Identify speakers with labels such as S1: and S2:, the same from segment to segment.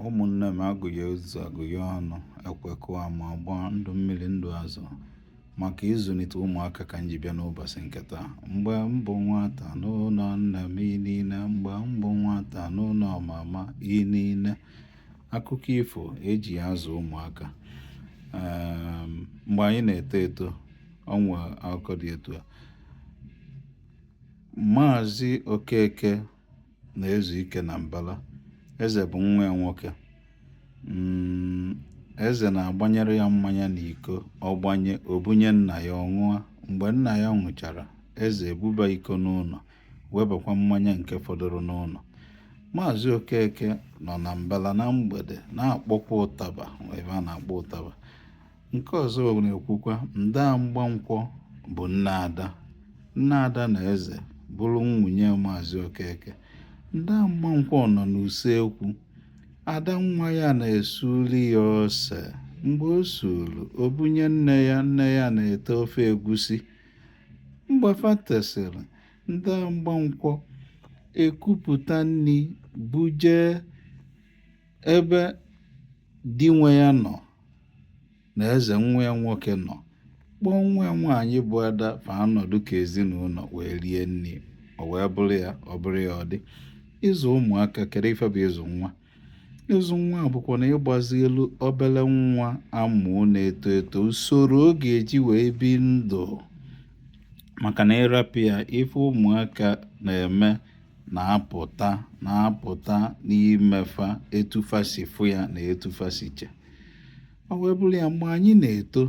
S1: ụmụnne m agụghị ụzọ agụghị ọnụ ekwekọ ma ọgbọ ndụ mmiri ndụ azụ maka ịzụlite ụmụaka ka m ji bịa n'ụbọchị nke taa mgbe m bụ nwata n'ụlọ nne m inine mgbe m bụ nwata n'ụlọ mama inine akụkọ ifo eji azụ ụmụaka ehm, mgbe anyị na-eto eto o nwe akụkọ dị etu a maazị okeke na-ezu ike na mbala eze bụ nwa ya nwoke mm, eze na-agbanyere ya mmanya n'iko ọ gbanye o bunye nna ya ọ ṅụa mgbe nna ya ṅụchara eze ebuba iko n'ụlọ webakwa mmanya nke fọdụrụ n'ụlọ maazị okeke nọ na mbala na mgbede na-akpọkwa ụtaba ebe ọ na-akpọ ụtaba Nke ọzọ na-ekwukwa nda mgbankwọ bụ nne ada nne ada na eze bụrụ nwunye maazị okeke nda mgbankwọ nọ n'usekwu ada nwa ya na-esuru ya ose mgbe o suru o bunye nne ya nne ya na-ete ofe egusi mgbe fa tesịrị nda mgbankwọ ekupụta nri buje ebe di nwe ya nọ na eze nwa ya nwoke nọ kpọọ nwa ya nwaanyị bụ ada fa anọdụ ka ezinụlọ wee rie nri o wee bụrụ ya ọ bụrụ ya ọ dị ịzụ ụmụaka kedu ife bụ ịzụ nwa ịzụ nwa bụkwanụ ịgbazielu obere nwa a mụ na-eto eto usoro ọ ga-eji wee bi ndụ maka na ị rapụ ya ife ụmụaka na-eme na-apụta na-apụta n'ime fa etu fa si fụ ya na etu fa si che ọ wee bụrụ ya mgbe anyị na-eto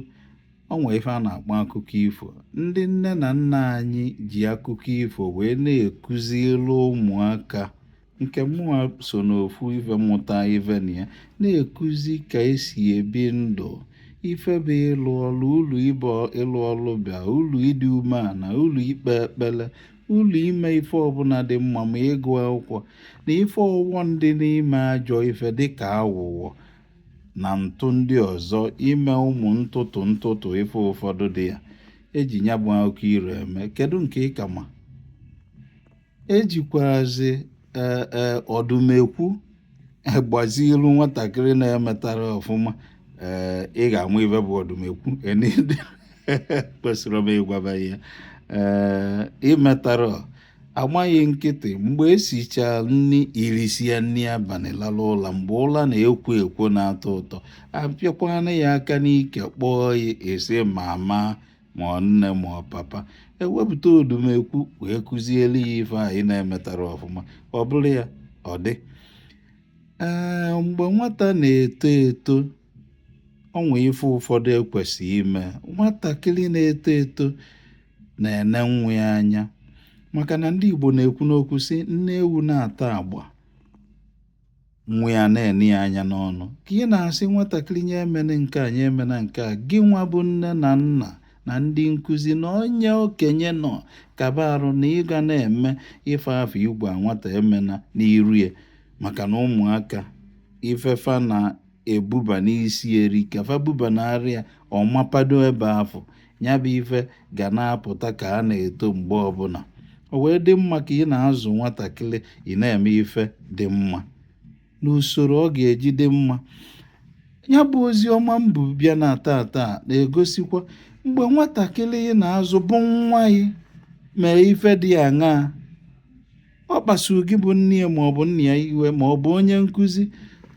S1: o nwee ife a na-akpọ akụkọ ifo ndị nne na nna anyị ji akụkọ ifo wee na-ekuziri ụmụaka nke mụnwa so n'ofu ife mmụta ife na ya na-ekuzi ka esi ebi ndụ ife bụ ịlụ ọlụ ụlọ ife bụ ịlụ ọlụ ubi ulu ịdị umeala ulu ikpe ekpere ulu ime ife ọbụla dị mma ma ịgụ akwụkwọ na ife ọghọm dị n'ime ajọ ife dịka awụwọ na ntụ ndị ọzọ ime ụmụ ntụtụ ntụtụ ife ụfọdụ dị ya eji ya bụ akụkọ iro eme kedu nke ị ka ma ejikwazi e, e, ọdụmekwu gbazielu nwatakịrị na-emetarọ ọfụma ee eh, ị ga-ama ife bụ ọdụmekwu kwesịrị m ịgwaba ya ee eh, i metarọ a gba gị nkịtị mgbe esicha nri i risie nri abalị lala ụla mgbe ụla na-ekwo ekwo na-atọ ụtọ apịakwana ya aka n'ike kpọọ ya esi mama ma ọ nne ma ọ papa ewepụta odumekwu wee kụziere ya ife anyị na-emetara ọfụma ọ bụrụ ya ọ dị ee mgbe nwata na-eto eto o nwee ife ụfọdụ ekwesịghị ime nwatakịrị na-eto eto na-ene nne ya anya maka na ndị Igbo na-ekwu n'okwu sị nne ewu na-ata agba nwa ya na-ene ya anya n'ọnụ ka ị na-asị nwatakịrị nya emene nke a nya emena nke a gị nwa bụ nne na nna na ndị nkụzi na onye okenye na ọ ka bụ arụ na ị ga na-eme ife afụ ị gwa nwata emena n'iru ya maka na ụmụaka ife fa na ebuba n'isi erika fa buba n'arị ya ọ mapado ebe afụ ya bụ ife ga na-apụta ka a na-eto mgbe ọbụla o wee dị mma ka ị na-azụ nwatakịrị ị na-eme ife dị mma n'usoro ọ ga-eji dị mma ya bụ ozi ọma m bu bịa na taata na-egosikwa mgbe nwatakịrị ị na-azụ bụ nwa gị mee ife dị aṅaa ọ kpasuru gị bụ nne ya ma ọ bụ nna ya iwe ma ọ bụ onye nkụzi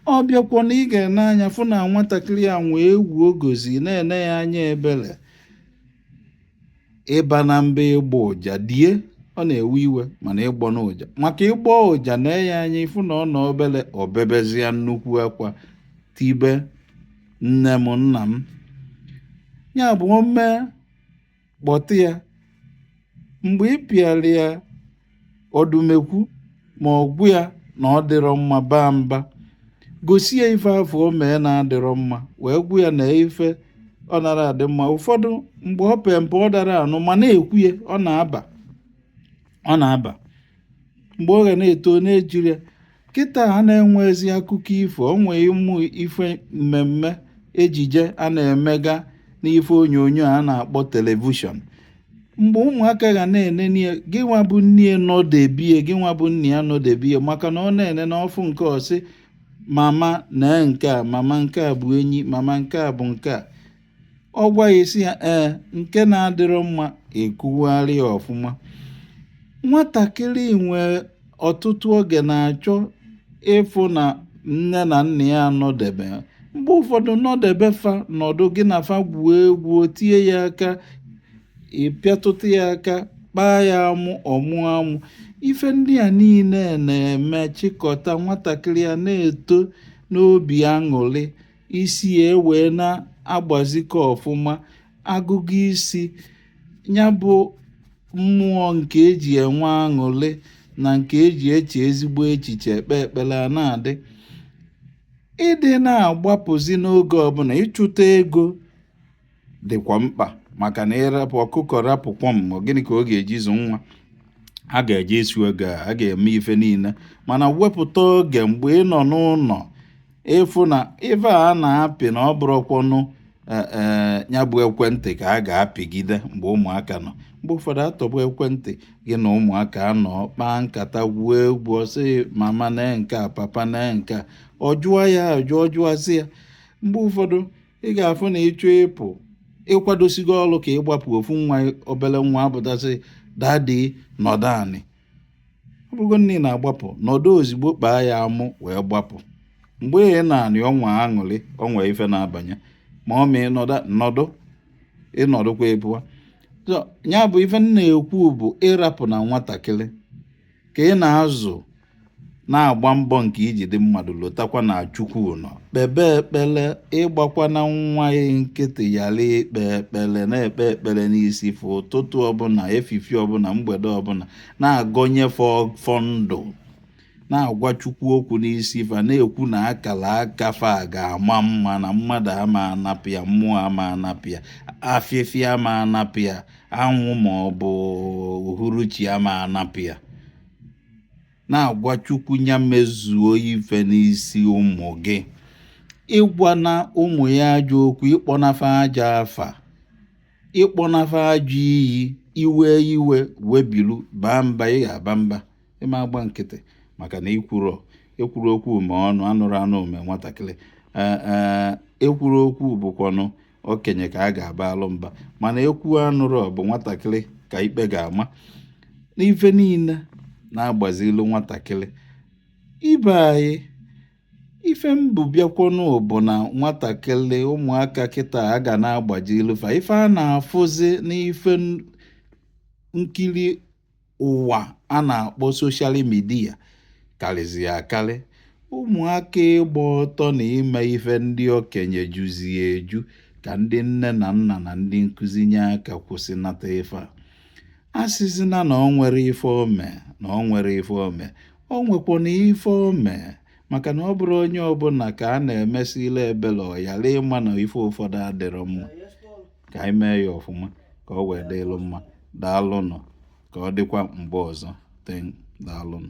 S1: ọ bịakwa na ị ga-ene anya fụ na nwatakịrị ya nwee egwu ogozi na-ene ya anya ebere ịba na mba ịgbọ ụja die ọ na-ewe iwe mana ịgbọ na ụja maka ị gbọọ ụja nee ya anya ị fụ na ọ nọ obere o bebezie nnukwu akwa tibe nne m nna m ya bụ o mee kpọtụ ya mgbe ị pịara ya ọdụmekwu ma ọ gwa ya na ọ dịrọ mma baa mba gosi ya ife afụ o mee na-adịrọ mma wee gwa ya na ife ọ nara adị mma ụfọdụ mgbe o pee mpe ọ dara anụ ma na-ekwu ya ọ na-aba ọ na-aba mgbe ọ ga na-eto na-ejiri ya kịta a na-enwezi akụkọ ifo o nwee ụmụ ife mmemme ejije a na-emega n'ife onyonyo a na-akpọ television mgbe ụmụaka ga na-enene ya gị nwa bụ nne ya nọdebe ya gị nwa bụ nna ya nọdebe ya maka na ọ na-enene ọ fụ nke ọ sị mama nee nke a mama nke a bụ enyi mama nke a bụ nke a ọ gwa ya isi ya ee nke na-adịrọ mma e kwugharịa ya ọfụma nwatakịrị nwere ọtụtụ oge na-achọ ịfụ na nne na nna ya nọdebe mgbe ụfọdụ nọdebe fa nọdụ gị na fa gwuo egwu tie ya aka ị pịatụta ya aka kpaa ya amụ ọ mụọ amụ ife ndị a niile na-eme chịkọta nwatakịrị ya na-eto n'obi aṅụrị isi ya ewee na-agbazikọ ọfụma agụgụ isi ya bụ mmụọ nke e ji enwe aṅụrị na nke e ji eche ezigbo echiche ekpe ekpere a na-adị ịdị na-agbapụzi n'oge ọbụla ịchụta ego dịkwa mkpa maka na ịrapụ ọkụkọ rapụ kwọm gịnị ka ọ ga-eji zụ nwa a ga-eje isi oge a ga-eme ife niile mana wepụta oge mgbe ị nọ n'ụnọ ị fụ na ife a na-apị na ọ bụrụkwanụ e, e, ya bụ ekwentị ka a ga-apịgide mgbe ụmụaka nọ mgbe ụfọdụ atọgbọ ekwentị gị na ụmụaka anọ kpaa nkata gwuo egwu ọ sị mama na nke a papa na nke a ọ jụọ ya ajụjụ zaa ya mgbe ụfọdụ ị ga-afụ na ị chọọ ịpụ ị kwadosigo ọrụ ka ị gbapụ ofu nwa obere nwa apụta sị dadi nọdụ anị ọ bụrụgodi na ị na-agbapụ nọdụ ozigbo kpaa ya amụ wee gbapụ mgbe ị nọ anị o nwe aṅụrị o nwe ife na-abanye ma ọ ma ịnọdụ nọdụ ị nọdụkwa ị pụwa ya bụ ife m na-ekwu bụ ịrapụ na nwatakịrị ka ị na-azụ na-agba mbọ nke i ji dị mmadụ lotakwa na chukwu nọ kpebe ekpere ịgbakwana nwa yị nkịtị yara ikpe ekpere na-ekpe ekpere n'isi fa ụtụtụ ọbụla efifi ọbụla mgbede ọbụla na-agọnye fa ọfọ ndụ na-agwa chukwu okwu n'isi fa na-ekwu na akara aka fa ga-ama mma na mmadụ ama anapụ ya mmụọ ama anapụ ya afịfịa ama anapụ ya anwụ ma ọ bụ uhuruchi ama anapụ ya na-agwa chukwu ya mezuo ife n'isi ụmụ gị ịgwana ụmụ yị ajọ okwu ịkpọna fa ajọ afa ịkpọna fa ajọ iyi iwe iwe webilu baa mba ị ga-aba mba ị ma agba nkịtị maka na ikwuru ekwuru okwu ma ọ nụ anụrọ anụ o mee nwatakịrị ekwurọ okwu bụkwanụ okenye ka a ga-abaalụ mba mana ekwuo anụrọ bụ nwatakịrị ka ikpe ga-ama n'ife niile na-agbazilu nwatakịrị ibe anyị ife m bu bịakwanụ bụ na nwatakịrị ụmụaka kịta a ga na-agbazilu fa ife a na-afụzi n'ife nkiri ụwa a na-akpọ soshal midia karịzi akarị ụmụaka ịgba ọtọ na ime ife ndị okenye juzie eju ka ndị nne na nna na ndị nkụzi nye aka kwụsịnata ife a asịzina na o nwerọ ife o me na o nwerọ ife o me o nwekwanụ ife o me maka na ọ bụrụ onye ọbụla ka a na-emesịlị ebele ọ yara ịma na ife ụfọdụ adịrọ mma ka anyị mee ya ọfụma ka ọ wee dịlụ mma daalụnụ ka ọ dịkwa mgbe ọzọ ten daalụnụ